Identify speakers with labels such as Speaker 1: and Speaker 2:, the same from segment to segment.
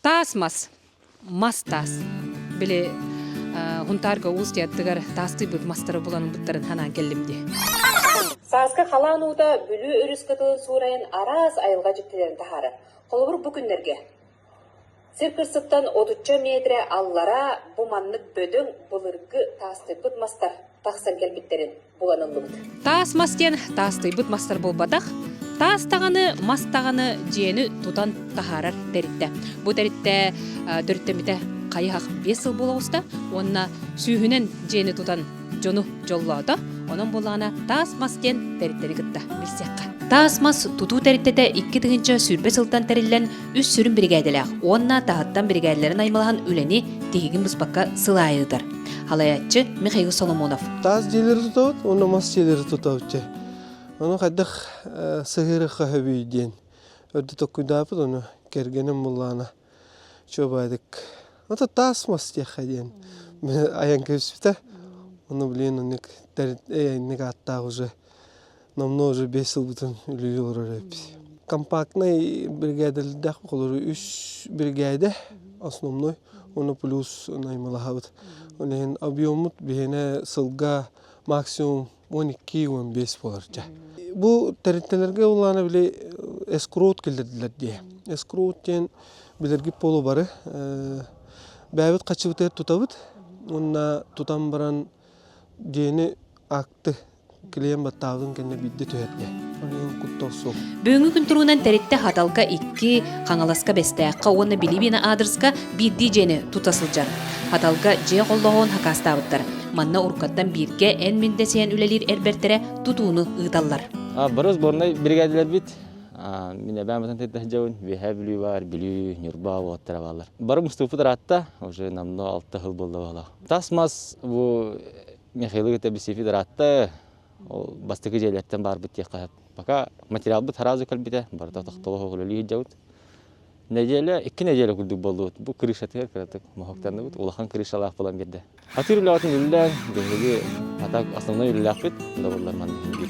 Speaker 1: Таас мас, мас таас. Били Хунтаарга уус тыйаттыгар таастыйбыт мастары булан ылбыттарын ханаан келлим дии. Сааскы
Speaker 2: халаан уута Бүлүү өрүс кытылын суурайын араас айылга дьиктилэрин таһаарар. Холобур бу күннэргэ Сир кырсыттан отучча метрэ аллара бу маннык бөдөҥ былыргы таастыппыт мастар тахсан кэлбиттэрин Таас мас диэн
Speaker 1: таастыйбыт мастар буолбатах, таас даҕаны, мас даҕаны дьиэни тутан таһаарар тэрилтэ. Бу тэрилтэ төрүттэммитэ хайыһах биэс сыл буола оҕуста уонна сүүһүнэн дьиэни тутан дьону дьоллоото. Онон буоллаҕына таас мас диэн тэрилтэни кытта билсиэххэ. Таас мас тутуу тэрилтэтэ икки тыһыынча сүүрбэ сылтан тэриллэн үс сүрүн биригээдэлээх уонна таһыттан биригээдэлэрин аймалаһан үлэни тиһигин быспакка сыл аайы ыытар халайаччы михаил соломонов таас дьиэлэри тутабыт
Speaker 3: уонна мас дьиэлэри тутабыт ону хайдах сыһыыры хаһыбүй диэн өрдө tokkуйдаапыт ону кэргэним буллаана чуобайдык ото таас мас диэххэ диэн айан кэбиспитэ ону билиэн оннук эйэнник ааттаах уже намного же бэс сылбытын үлүйэ олорор эбит компактнай биригээдэлэрдээх холору үс биригээдэ основной уонна плюс наймылаһабыт ол иһин объеммут биһинэ сылга максимум уон икки уон бэс буоларча бу тэрилтэлэргэ улаана били эскроут келдердилер дии эскроут диэн билэрги полу бары бээбит хачыбытыгар тутабыт уонна тутан баран дьиэни акты Клиент баттаабытын кэннэ биирдэ түһэрдэ. Онон куттал суох. Бүгүҥҥү күн туругунан
Speaker 1: тэрилтэ Хаталка икки, Хаҥаласка Бэстээххэ уонна Билибиэнэ аадырыска биирдии дьиэни тута сылдьар. Хаталка дьиэ холлоҕун хакаастаабыттар. Манна уруккаттан бииргэ эн мин дэсэйэн үлэлиир эрбэртэрэ тутууну ыыталлар. Борус борнай
Speaker 4: биригээдэлэрбит мин эбэм батан тыйда сылдьабын үөһээ бүлүү баар бүлүү ньурба уоттара баалар бары муступпут ыраатта уже намна алта хыл буолла баала тас мас бу Михаилы кытта биси федератта ол бастакы дьиэлэртэн баарбыт диэххэ пока материалбыт сразу кэлбитэ барыта тохтоло үлэлии сылдьабыт нэдиэлэ икки нэдиэлэ курдук буоллубут бу крышатыгар кыратык моһоктанныбыт улахан крышалаах буолан биэрдэ атыыр үлэҕитин үлэлээн биһиги атак основной үлэлээхпит добыллар манна биир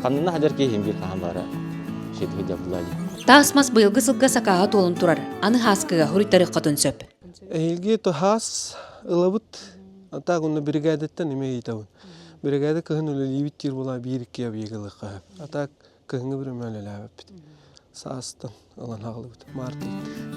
Speaker 4: ханнына хадьар киһин биир хаһан баара шетиһи дьабылаа Таас мас быйылгы
Speaker 1: сылга сакааһа туолун турар. Аны хааскыга хуруйтарык хотун сөп. Эһиги ту
Speaker 3: хаас ылабыт так онно биригээдэттэн эмиэ ыйытабын биригээдэ кыһын үлэлиибит диир буолаа биир икки объегылыкка а так кыһыҥҥы бір өмөөлөлөөбүппүт саастан ылан хааллыбыт марта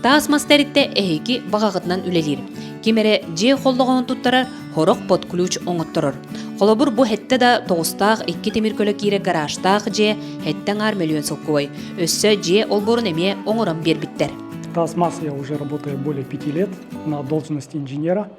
Speaker 3: таас мас
Speaker 1: тэрилтэ эһиги баҕаҕытынан үлэлиир ким эрэ дьиэ холлоҕоһун туттарар хорох под ключ оҥотторор холобур бу хэттэ да тоҕустаах икки тимир көлө киирэр гаражтаах дьиэ хэттэ аҥаар мөлүйүөн солкуобай өссө дьиэ олбуорун эмиэ оҥорон биэрбиттэр таз мас я
Speaker 5: уже работаю более пяти лет на должность инженера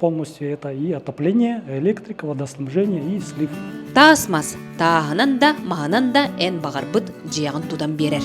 Speaker 5: полностью это и отопление, электрика, водоснабжение и слив. Таас мас
Speaker 1: тааһынан да, маһынан да эн баҕарбыт дьиэҕин тутан биэрэр.